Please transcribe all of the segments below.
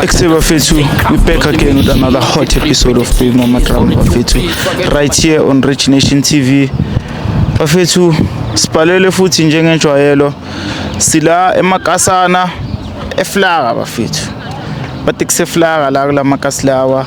Except Bafethu, we back again with another hot episode of Big Mama Drum Bafethu right here on Rich Nation TV. Bafethu, sibhalele futhi njengenjwayelo sila emakasana eflaka bafethu. Bathi kuseflaka la kulamakasi lawa.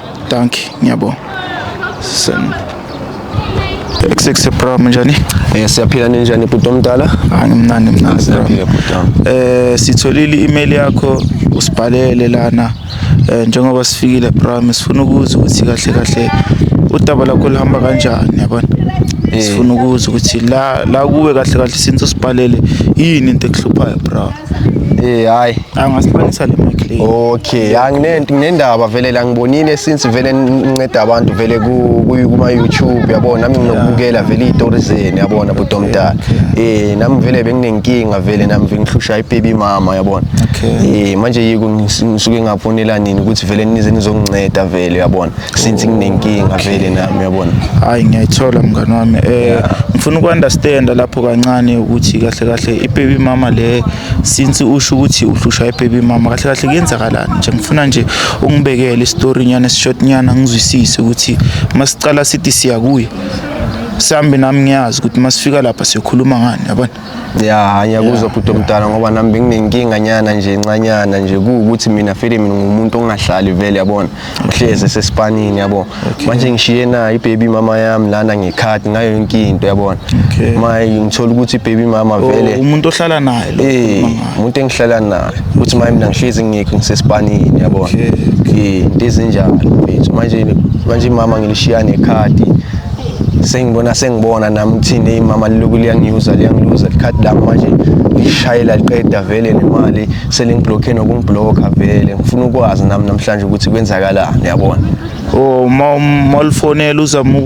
Dankie, ngiyabonga. Sen. Sexy bro njani? Eh siyaphila ninjani bhuti omdala? Ah ngimnandi mnandi. Siyaphila bhuti. Eh sitholile i-email yakho usibhalele lana eh njengoba sifikile bro sifuna ukuza ukuthi kahle kahle udaba lakho lihamba kanjani yabona? Eh. Sifuna ukuza ukuthi la la kuwe kahle kahle since usibhalele yini into ekuhluphayo bro? Eh hayi. Angasibonisa le mic le. Okay, anginento nginendaba vele la ngibonile since vele nginceda abantu vele ku kuma YouTube yabona nami nginokubukela vele izitori zeni yabona bhuti omdala. Eh nami vele benginenkinga vele nami ngihlushwa ibaby mama yabona. Okay. Eh manje yiko ngisuke ngafonela nini ukuthi vele nize nizonginceda vele yabona. since nginenkinga vele nami uyabona hayi ngiyayithola mngani wami eh ngifuna ukunderstanda lapho kancane ukuthi kahle kahle ibaby mama le since usho ukuthi uhlushwa ibaby mama kahle kahle kuyenzakalani nje ngifuna nje ungibekele istory nyana short nyana ngizwisise ukuthi masicala sithi siya kuye sambe nami ngiyazi ukuthi masifika lapha siyokhuluma ngani yabona ya ngiyakuzwa bhuti omdala ngoba nami benginenkinga nyana nje ncanyana nje kuwukuthi mina vele mina ngumuntu ongahlali vele yabona uhlezi esesipanini yabo manje ngishiye nayo ibaby mama yami lana ngekhadi ngayo yonke into yabona Okay. maye ngithola ukuthi ibaby mama Oh, vele umuntu ohlala naye lo Eh, ukhuluma ngaye. umuntu engihlala naye uthi maye mina ngihlezi ngekho ngisesipanini yabona Okay, eh into ezinjalo mfethu manje manje mama ngilishiya nekhadi sengibona sengibona nami ukuthini eyi mama liloku liyangiuza liyangiluza likhadi lami manje lishayela liqeda vele nemali selingiblokhe nokungiblokha vele ngifuna ukwazi nami namhlanje ukuthi kwenzakalani yabona o uma malifonela uzama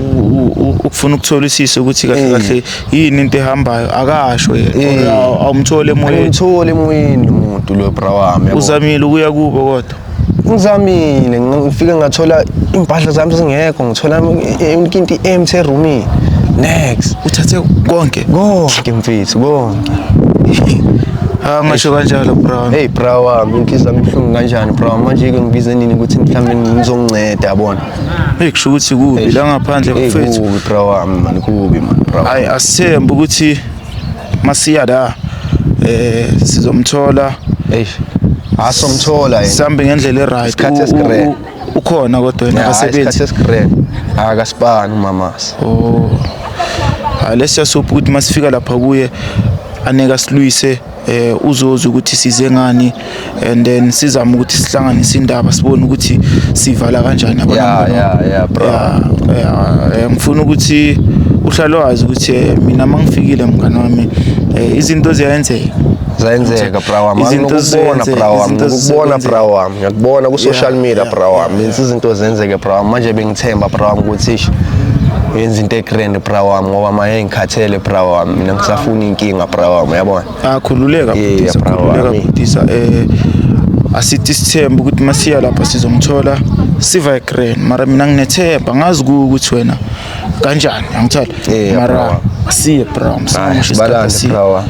ukufuna ukutholisisa ukuthi kahle kahle yini into ehambayo akasho yena awumthole emoyeni awumthole emoyeni umuntu lo bra wami uzamile ukuya kubo kodwa ngizamile ngifike ngathola impahla zami zingekho ngithola inkinti empty eroomini next uthathe konke konke mfethu konke Ah masho kanjalo bro. Hey bro wami inhliziyo yami ibuhlungu kanjani bro manje ke ngibize nini ukuthi mhlawumbe ngizonginceda yabona. Hey kusho ukuthi kubi la ngaphandle mfethu. Hey kubi bro wami man kubi man bro. Hayi asithembe ukuthi masiya la eh sizomthola eish asomthola yena sambe ngendlela eright Isikhathi esigrey. ukhona kodwa yena akasebenzi isikhathi esigrek akasibani umamasa oh hayi lesiyasopha ukuthi masifika lapha kuye aneke asilwise eh uzozi ukuthi size ngani and then sizama ukuthi sihlanganise indaba sibone ukuthi sivala kanjani abantu yeah yeah yeah bro yeah, yeah. Eh, ngifuna ukuthi uhlale wazi ukuthi eh, mina mangifikile mngani wami eh, izinto ziyenzeka zayenzeka bra wami ngikubona bra wami ngikubona bra wami ngiyakubona ku social media bra wami izinto zenzeke bra wami manje bengithemba bra wami ukuthi yenza into egrand bra wami ngoba maye ngikhathele bra wami mina ngisafuna inkinga bra wami uyabona akhululeka Yeah, bhutisa bra khululeka wami. bhutisa eh asithi isithemba ukuthi masiya lapha sizomthola siva grand mara mina nginethemba ngazi kuwe ukuthi wena kanjani angithola Yeah, bra mara wami. siye bra Hayi, sibalande bra wami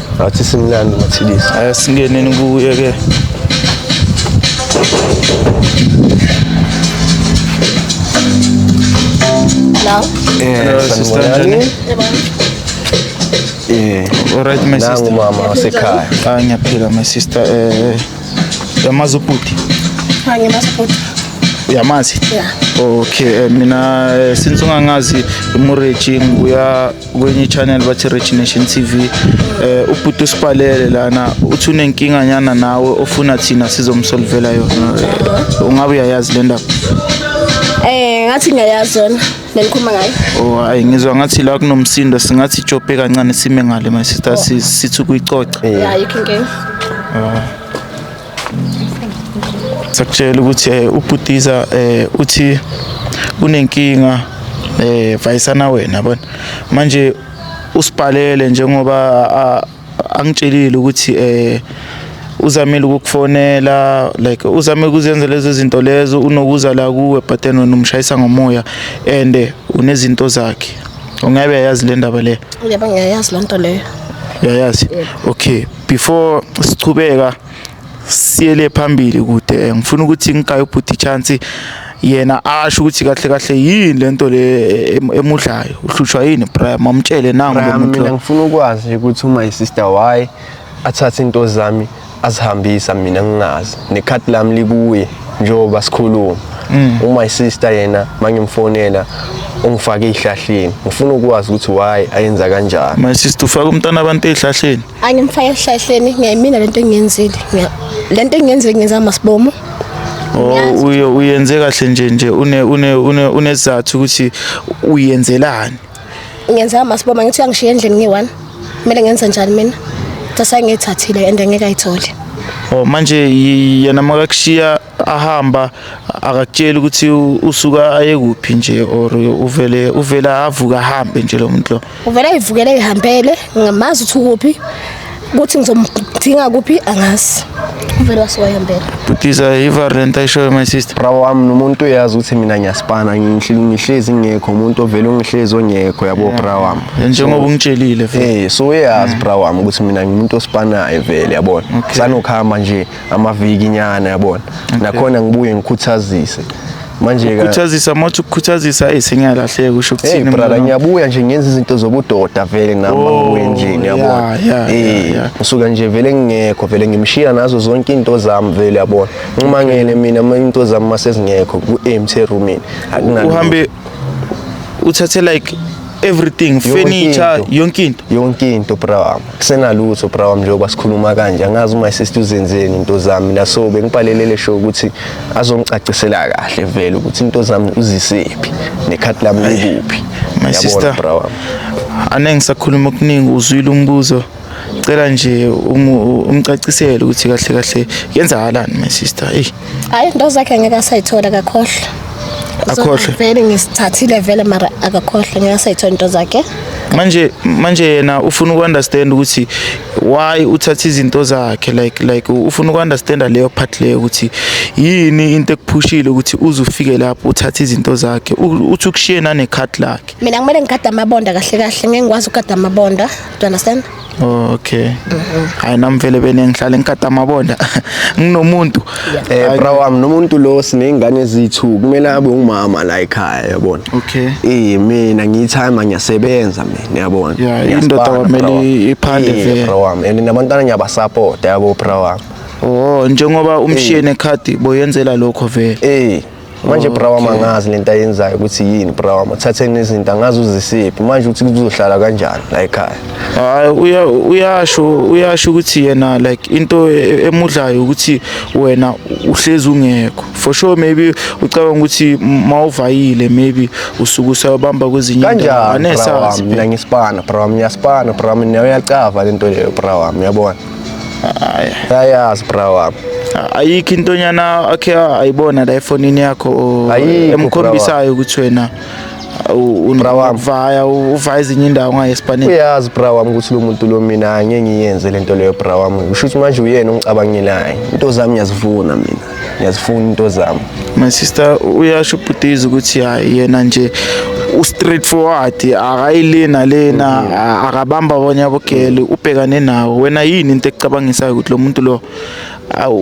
Ngathi simnandi mathilisa. Aya singeneni kuye ke. Hello. Eh, sister njani? Eh, alright my sister. Nangu mama wasekhaya. Ah, ngiyaphila my sister. Eh, yamazi ubhuti. Ha, ngimazi ubhuti. Uyamazi? Yeah. Okay, eh, mina eh, since ungangazi imureji nguya kwenye i-channel bathi rich nation t v um ubhuti usipalele lana uthi unenkinganyana nawe ofuna thina sizomsolvela yona Eh, ungabe uyayazi le ndaba Eh ngathi ngiyayazi yona nenikhuluma ngayo. o hayi Oh, ngizwa ngathi la kunomsindo singathi ijobhe kancane sime ngale my sister si- sithi ukuyicoca Yeah, you can go. Ah. sakutshela ukuthi eh, ubhutiza eh, uthi unenkinga eh vayisana wena bona manje usibhalele njengoba angitshelile ukuthi eh uzamile ukukufonela like uzame ukuzenza lezo zinto lezo unokuza la kuwe but then wena umshayisa ngomoya and eh, unezinto zakhe ungabe yayazi le ndaba le yebo ngiyayazi lento leyo uyayazi okay before sichubeka siyele phambili kude ngifuna ukuthi ngikaye ubhuti chance yena asho ukuthi kahle kahle yini lento le emudlayo uhlushwa yini Brian mamtshele nangu lo muntu mina ngifuna ukwazi ukuthi uma i sister why athathe into zami azihambisa mina ngingazi nekhati lami likuye njengoba sikhuluma mm. uma isister yena mangimfonela ungifake ezihlahleni ngifuna ukwazi ukuthi why ayenza kanjani my sister ufaka umntana abantu ezihlahleni angimfaka ezihlahleni ngiyimina lento engiyenzile lento engiyenzile ngenza masibomo oh, uye uyenze kahle nje nje une une une unesizathu ukuthi uyenzelani ngenza amasiboma ngithi uyangishiya endlini ngiyi-one kumele ngenze njani mina sase ngiyithathile and ngeke ayithole oh manje yena makakushiya ahamba akakutsheli ukuthi usuka aye kuphi nje or uvele uvela avuka ahambe nje lo muntu lo uvele ayivukele ihambele ngamazi ukuthi ukuphi ukuthi ngizomdinga kuphi angazi uvele wasiwayembela butisa ivar le nto ayishoyo my sister bravo wami nomuntu uyazi ukuthi mina ngiyasipana ngihlezi ngekho umuntu ovele ungihlezi ongekho yabo bra wami njengoba ungitshelile eh so uyazi bra wami ukuthi mina ngimuntu osipanayo vele yabona sanokuhamba nje amaviki nyana yabona nakhona ngibuye ngikhuthazise manje ka Ukhuthazisa mothi ukukhuthazisa hey sengiyalahleka usho Hey ukuthini brother mina? ngiyabuya nje ngenza izinto zobudoda vele nami Oh, angibuye nje yeah, ngiyabona yeah, yeah, eh yeah. ngisuka nje vele ngingekho vele ngimshiya nazo zonke into zami vele yabona nquma ngene mina ama- into zami masezingekho ku empty room uhambe uthathe like everything furniture yonke into yonke into bra wami kusenalutho bra wami njengoba sikhuluma kanje angazi uma sister uzenzeni into zami la so bengibhalelele show ukuthi azongicacisela kahle vele ukuthi into zami uzisephi nekhati lami likuphi my sister bra wami anengisakhuluma okuningi uzwile umbuzo Cela nje umcacisele ukuthi kahle kahle yenzakalani my sister. Ey. Hayi into zakhe ngeke asayithola kakhohle. Akhohle. Vele ngisithathile vele mara akakhohle ngeke asayithola into zakhe. manje manje yena ufuna ukunderstand ukuthi why uthatha izinto zakhe like like ufuna ukunderstand leyo part leyo ukuthi yini into ekuphushile ukuthi uze ufike lapho uthatha izinto zakhe uthi ukushiye nane card lakhe mina kumele ngigade amabonda kahle kahle ngeke ngikwazi ukugada amabonda Do you understand? Oh, okay. Mm-hmm. Hayi nami vele bene ngihlale ngikata amabonda. Nginomuntu. Eh bro wami nomuntu lo sinezingane ezithu kumele abe ungumama la ekhaya yabona. Okay. Eh mina ngiyithayima ngiyasebenza mina yabona. Yeah, indoda kwamele iphande vele. Bro wami and nabantwana ngiyabasupport yabo bro wami. Oh njengoba umshiye nekhadi boyenzela lokho vele. Eh manje okay. brawama angazi lento ayenzayo ukuthi yini brawama thatheni izinto angazi uzisiphi manje ukuthi kuzohlala kanjani la ekhaya hayi uya uyasho uyasho ukuthi yena like into e, e, emudlayo ukuthi wena uhlezi ungekho for sure maybe ucabanga ukuthi mawuvayile maybe usuku usayobamba kwezinye kanjani mina ngisipana brawama ngiyaspana brawama nayo yacava lento leyo brawama uyabona ayazi bra wami ayikho intonyana akhe ayibona la efonini yakho emkhombisayo ukuthi wena unavaya uvaya ezinye indawo ngayo esipanini uyazi bra wami ukuthi lo muntu lo mina angeke ngiyenze lento leyo bra wami usho ukuthi manje uyena ongicabangelayo into zami ngiyazivuna mina ngiyazifuna into zami my sister uyasho ubhutiza ukuthi hayi yena nje u-straight forward akayile nalena mm-hmm. akabamba abanye abogele ubhekane nawo wena yini into ekucabangisayo ukuthi lo muntu lo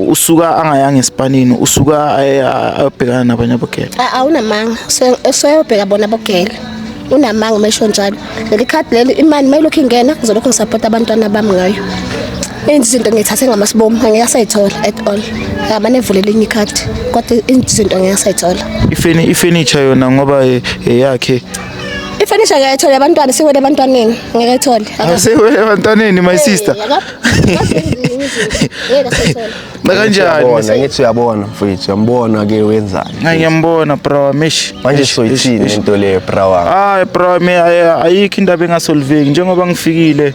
usuka angayanga esipanini usuka ayobhekana nabanye abogele awunamanga useyobheka bona abogele unamanga umesho njalo leli khadi leli imali mayilokhu ingena ngizolokhu ngisapota abantwana bami ngayo enzi izinto ngithathe ngamasibomu angeke asayithola at all ngamane evule elinye ikhadi kodwa enzi izinto ngeke asayithola ifeni ifurniture yona ngoba eh, eyakhe ifurniture ngeke ayithole abantwana siwele ebantwaneni ngeke ayithole Aka- Asewele ebantwaneni my sister. Eh, aka- akazenzi izinto. Ngeke asayithola Kanjani? Ngithi uyabona mfethu, uyambona ke wenzani? Hayi ngiyambona bro, mish. Manje soyithini into le bro wami? Hayi bro, me ayikho indaba engasolveki njengoba ngifikile.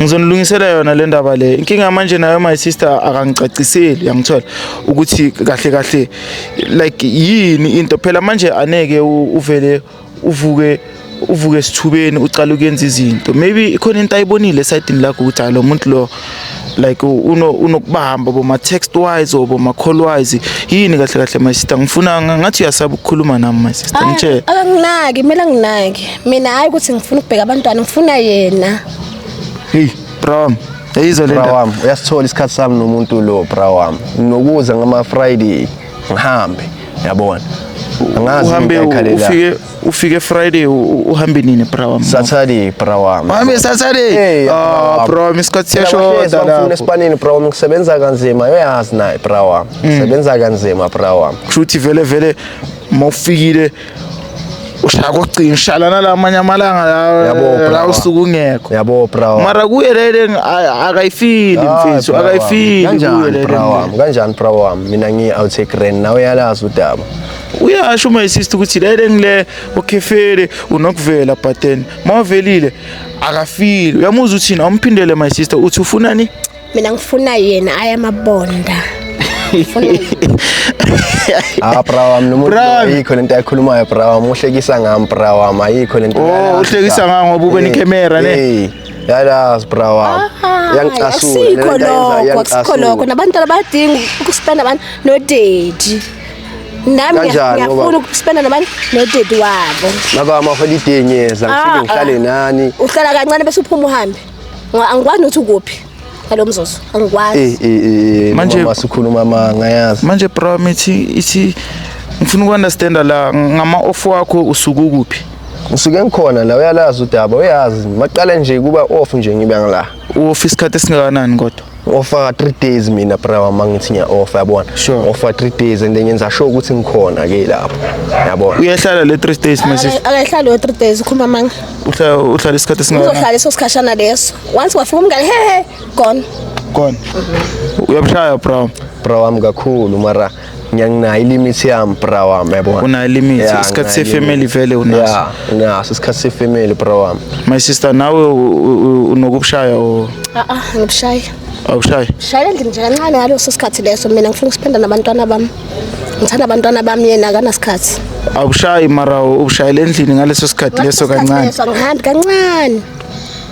Ngizonilungisela yona le ndaba le. Inkinga manje nayo my sister akangicaciseli, yangithola ukuthi kahle kahle like yini into. Phela manje aneke uvele uvuke uvuke esithubeni ucala ukuyenza izinto maybe ikhona into ayibonile esayidini lakho ukuthi hayi lo muntu lo like uno unokubamba boma text wise or boma call wise yini kahle kahle my sister ngifuna ngathi uyasaba ukukhuluma nami my sister ngithe akanginaki kumele anginaki mina hayi ukuthi ngifuna ukubheka abantwana ngifuna yena hey bro Yayizwa le ndaba. Uyasithola isikhathi sami nomuntu lo bra wami. Nokuza ngama Friday ngihambe yabona angazi uhambe ufike ufike friday uhambe nini bra wami saturday bra wami wami saturday ah bra wami isikhathi siyashoda lapho esipanini bra wami ngisebenza kanzima uyazi naye bra wami ngisebenza kanzima bra wami kushuthi vele vele mawufikile ushaya kocingo ushala nalamanye amalanga la la usuku ungekho yabo bro mara kuye lele akayifili mfethu akayifili kanjani bro wami kanjani bro wami mina ngi out take rent nawe yalazi udaba uyasho uma isist ukuthi lele ngile okhefele unokuvela but then mavelile akafili uyamuzwa uthina umphindele my sister uthi ufunani mina ngifuna yena ayamabonda ah bra wami nomuntu Bra. ayikho lento ayikhulumayo bra wami uhlekisa ngami bra wami ayikho lento Oh, uhlekisa ngami ngoba ube nekhemera, ne? Eh, yalazi bra wami Ah, yangicasula asikho lento ayenzayo lokho asikho yangicasula. lokho nabantwana bayadinga ukuspenda abantu nodedi nami Kanjani, ngiya- ngiyafuna ngoba- ukuspenda nabantu nodedi wabo maka wami aholiday ngiyeza ngifike Ah, ngihlale ah. nani uhlala kancane bese uphuma uhambe Ngo- angikwazi nokuthi ukuphi ngalo mzuzu angikwazi Eh, eh, eh, Manje- mama sikhuluma amanga yazi manje bra mithi ithi ngifuna uku-understanda la ngama-off wakho usuke ukuphi ngisuke ngikhona la uyalazi udaba uyazi maqale nje kuba off nje ngibe ngila u-off isikhathi esingakanani kodwa Offer 3 days mina bra wami ngithi ngiya offer yabona. Sure. Offer 3 days and then ngenza sure ukuthi ngikhona ke lapho. Yabona. Uyehlala le 3 days mase. Akahlali we 3 days ukhuluma amanga. Uhlala uhlala isikhathi singaka. Uzohlala iso sikhashana leso. Once wafika umngane he he gone. Gone. Uyabushaya bra. Bra wami kakhulu mara ngiyanginayo ilimithi yami bra wami yabona unayo ilimithi yeah, isikhathi sefamily vele unaso yeah nginaso isikhathi sefamily bra wami my sister nawe unokubushaya o a a ngibushaya awushaya shaya endlini nje kancane ngaleso sikhathi leso mina ngifuna ukusipenda nabantwana bami ngithanda abantwana bami yena akanasikhathi awushayi mara ubushayela endlini ngaleso sikhathi leso kancane ngihambi kancane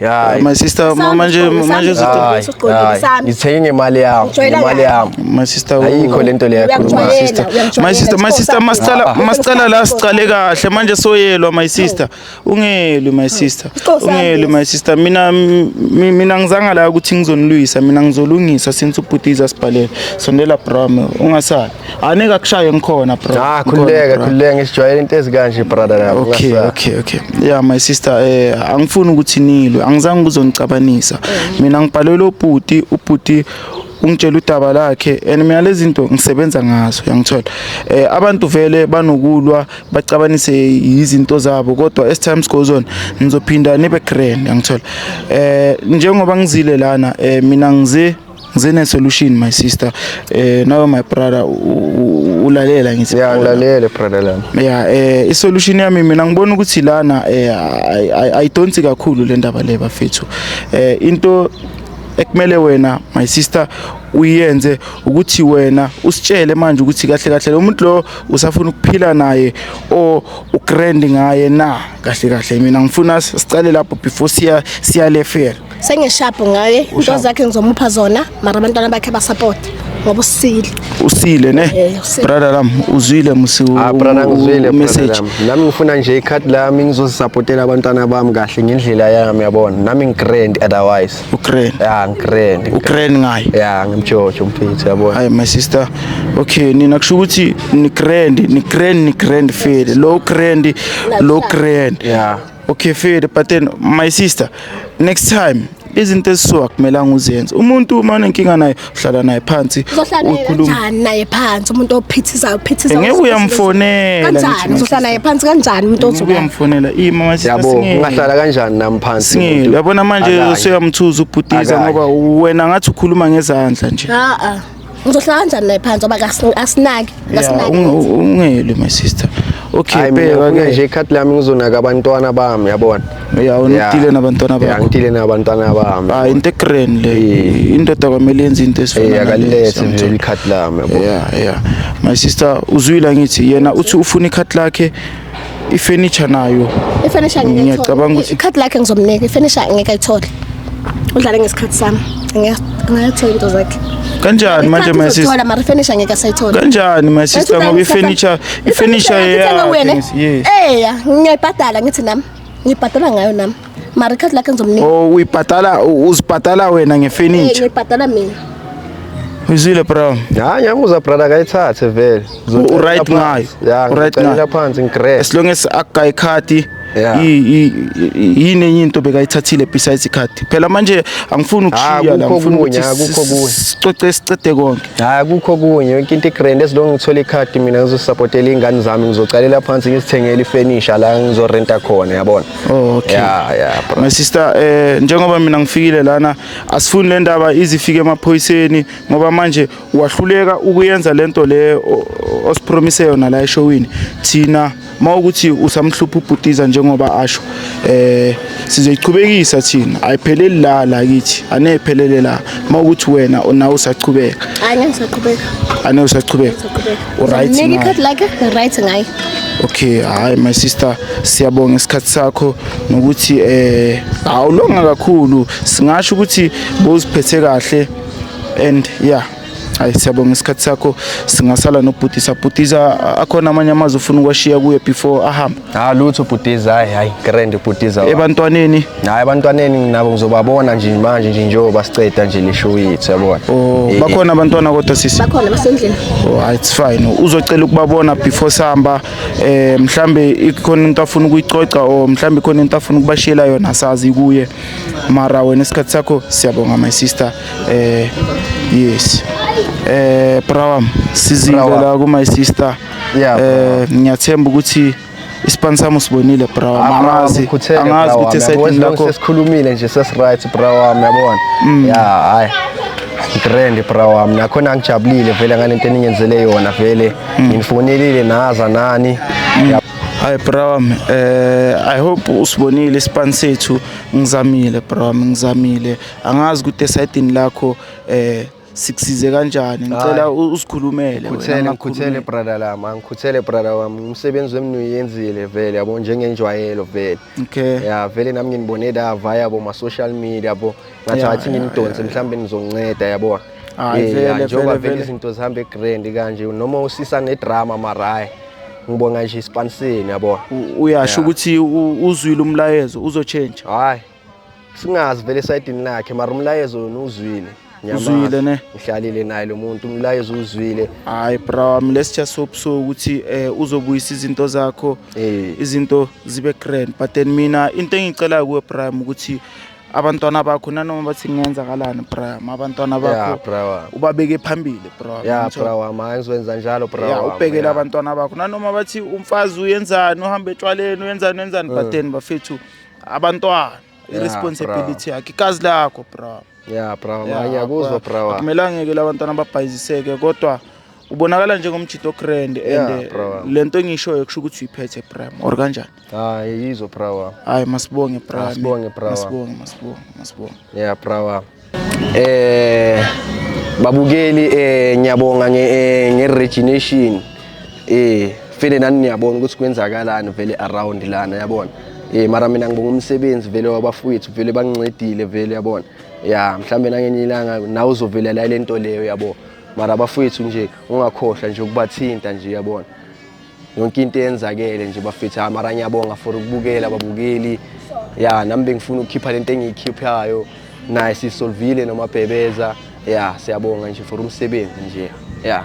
Ya, my sister Sami, manje Sami, manje Sami. zitho Hayi, Hayi, usuqondile, hayi. Sami. ngithenge ngemali yami Ujwayela ngemali kahle. yami my sister u- ayikho lento leyo yakhuluma Uyakujwayela, sister. uyakujwayela. my sister my Sipho, sister Sami. masicala Ah. masicala la sicale kahle manje soyelwa my sister ungelwi my sister Sipho, Sami. ungelwi my sister mina mi- mina ngizanga la ukuthi ngizonilwisa mina ngizolungisa since ubhutiza sibhalele sondela brame ungasali Anike akushaye ngikhona bro. Ah khululeka khululeka ngisijwayele into ezikanje brother lapho. Okay okay okay. Yeah my sister eh angifuni ukuthi nilwe. Angizange kuzonicabanisa. Mina ngibhalelwe ubhuti ubhuti ungitshela udaba lakhe and mina lezi zinto ngisebenza ngazo yangithola eh abantu vele banokulwa bacabanise izinto zabo kodwa as times goes on ngizophinda nibe grand yangithola eh njengoba ngizile lana eh mina ngize Ngizene solution my sister. Eh nawe my brother ulalela ngithi. Yeah ngilalele brother lami. Yeah eh i solution yami mina ngibona ukuthi lana eh I don't think kakhulu le ndaba le bafethu. Eh into ekumele wena my sister uyenze ukuthi wena usitshele manje ukuthi kahle kahle lo muntu lo usafuna ukuphila naye o ugrand ngaye na kahle kahle mina ngifuna siqale lapho before siya siya lefela sengeshabhu ngaye into zakhe ngizomupha zona mara abantwana bakhe basapota ngoba usile usile ne eh, brother lam uzwile musi ah brother ngizwile message nami ngifuna nje icard lami ngizosupportela abantwana bami kahle ngendlela yami yabona nami ngigrand otherwise ugrand yeah ngigrand ugrand ngayo yeah ngimjojo mfethu yabona hayi my sister okay nina kusho ukuthi ni grand ni grand ni grand feel low grand low grand yeah Okay fair but then my sister next time izinto ezisuka kumelanga uzenze umuntu uma unenkinga naye uhlala naye phansi ukhulumani naye phansi umuntu ophithizayo phithizayo ngeke uyamfonela kanjani uzohlala naye phansi kanjani umuntu ozobe uyamfonela ima manje yabo ungahlala kanjani nami phansi singile yabona manje usuyamthuza ubhudiza ngoba wena ngathi ukhuluma ngezandla nje a a Ngizohlala kanjani naye phansi ngoba kasi- asinaki Yeah, asinaki. unge- ungeli my sister. Okay, Hayi mina bheka ngifuna ke. nje ikhathi lami ngizonaka abantwana bami yabona. Yeah, unodile nabantwana Yeah, bakho. ngidile nabantwana bami. Ah, into egrand le. Yeah. Indoda kwamele yenze into Eh ezifana akalilethe nje sometimes. ikhathi lami yabona. Yeah, yeah. My sister uzwile ngithi yena uthi ufuna ikhathi lakhe ifurniture nayo ifurniture ngeke ngiyacabanga ukuthi ikhadi lakhe ngizomnika ifurniture ngeke ayithole udlale ngesikhathi sami ngiyathola into zakhe kanjani manje my sister mara furniture ngeke sayithola kanjani my sister ngoba ifurniture ifurniture yakhe yes eya ngiyayibhadala ngithi nami ngibhadala ngayo nami mara ikhadi lakhe ngizomnika oh uyibhadala uzibhadala wena Eh, ngefurniture ngiyibhadala mina uyizwile bro hayi ngiyamuza brother akayithathe vele U- u right ngayo. ya U right ngicalela ngayo. phansi ngigreat as long as akuga ikhadi Yeah. i- i- i- yini enye into bekayithathile besides ikhadi phela manje angifuni ukushiya Ah, la kukho ngifuna ukuthi okunye, ah, kukho si- okunye. sicoce siqede konke hayi akukho kunye yonke into igrand ezilonge ngithole ikhadi mina ngizosapotela iy'ngane zami ngizocalela phansi ngizithengele ifenisha la ngizorenta khona yabona Oh, okay. Yeah, yeah, bro. My sister eh njengoba mina ngifikile lana asifuni le ndaba izifike emaphoyiseni ngoba manje wahluleka ukuyenza lento le osipromise yona la eshowini thina mawukuthi usamhlupha ubhutiza njengoba asho eh sizoyichubekisa thina ayipheleli la la kithi anephelele la mawukuthi wena nawe usachubeka ane usachubeka ane usachubeka uryt ngaye okay hayi my sister siyabonga isikhathi sakho nokuthi eh awulonga kakhulu singasho ukuthi bowuziphethe kahle and yeah hayi siyabonga isikhathi sakho singasala nobhutisa bhutisa akhona amanye amazwi ufuna ukwashiya kuye before ahambe Ha ah, lutho bhutiza hayi hayi grand bhutiza. Ebantwaneni? Hayi abantwaneni nabo ngizobabona nje manje nje njengoba siceda nje leshow yethu yabona. Oh eh, bakhona eh. abantwana kodwa sisi. Bakhona basendlini. Oh ah, it's fine. Uzocela ukubabona before samba eh mhlambe ikhona umuntu afuna ukuyicoca or mhlambe ikhona into afuna ukubashela yona sazi kuye. Mara wena isikhathi sakho siyabonga my sister. Eh yes. Eh brawam sizile la ku my sister. Yeah, bro. eh ngiyathemba ukuthi ispan sami usibonile bra wami angazi Ukhuthele, angazi bra ukuthi wami, esayidini yabona, lakho sesikhulumile nje sesiright bra wami yabona Mm. ya hayi ngitrend bra wami nakhona ngijabulile vele ngale nto eningenzele yona vele Mm. nginifonelile naza nani Ya- hayi bra wami eh i hope usibonile ispan sethu ngizamile bra wami ngizamile angazi ukuthi esayidini lakho eh sikusize kanjani ngicela usikhulumele ngikhuthele ngikhuthele brother lami angikhuthele brother wami umsebenzi wemni uyenzile vele yabo njengenjwayelo vele okay ya vele nami nginibone dava yabo ma social media yabo ngathi ngathi ngimdonse mhlawumbe nizonceda yabo eh, njengoba vele izinto zihamba egrand kanje noma usisa nedrama marayi ngibonga nje isipaniseni yabo uyasho ukuthi uzwile umlayezo uzotshentsha hayi singazi vele esayidini lakhe mara umlayezo yona uzwile uzwile ne ngihlalile naye lo muntu umlayezo uzwile hayi bra mina sija sobuso ukuthi eh, uzobuyisa izinto zakho eh. izinto zibe grand but then mina into engicela kuwe prime ukuthi abantwana bakho nanoma bathi kungenzakalani bra abantwana bakho ubabeke phambili bra ya bra wami angizowenza njalo bra ya ubhekele abantwana bakho nanoma bathi umfazi uyenzani uhamba etshwaleni uyenzani uyenzani eh. but then bafethu abantwana Yeah, i-responsibility yakhe ikazi lakho bra ya bravo Yeah, ngiyakuzwa akwa- bravo akumelanga ke labantwana ababhayiziseke kodwa ubonakala njengomjito grand Yeah, and bro. le nto engishoyo kusho ukuthi uyiphethe bram or kanjani hayi yizwa bravo hayi masibonge bram Masibonge, bra. masibonge masibonge masibonge ya bravo eh babukeli eh ngiyabonga nge eh, nge regination eh fele nani niyabona ukuthi kwenzakalani vele around lana yabona eh mara mina ngibonga umsebenzi vele wabafowethu vele bangincedile vele yabona ya mhlambe nangenye ilanga nawe uzovelela lento leyo yabo mara abafowethu nje ungakhohlwa nje ukubathinta nje yabona yonke into eyenzakele nje bafethu hayi mara ngiyabonga for ukubukela ababukeli ya nami bengifuna ukukhipha lento engiyikhiphayo naye sisolvile nomabhebeza ya siyabonga nje for umsebenzi nje ya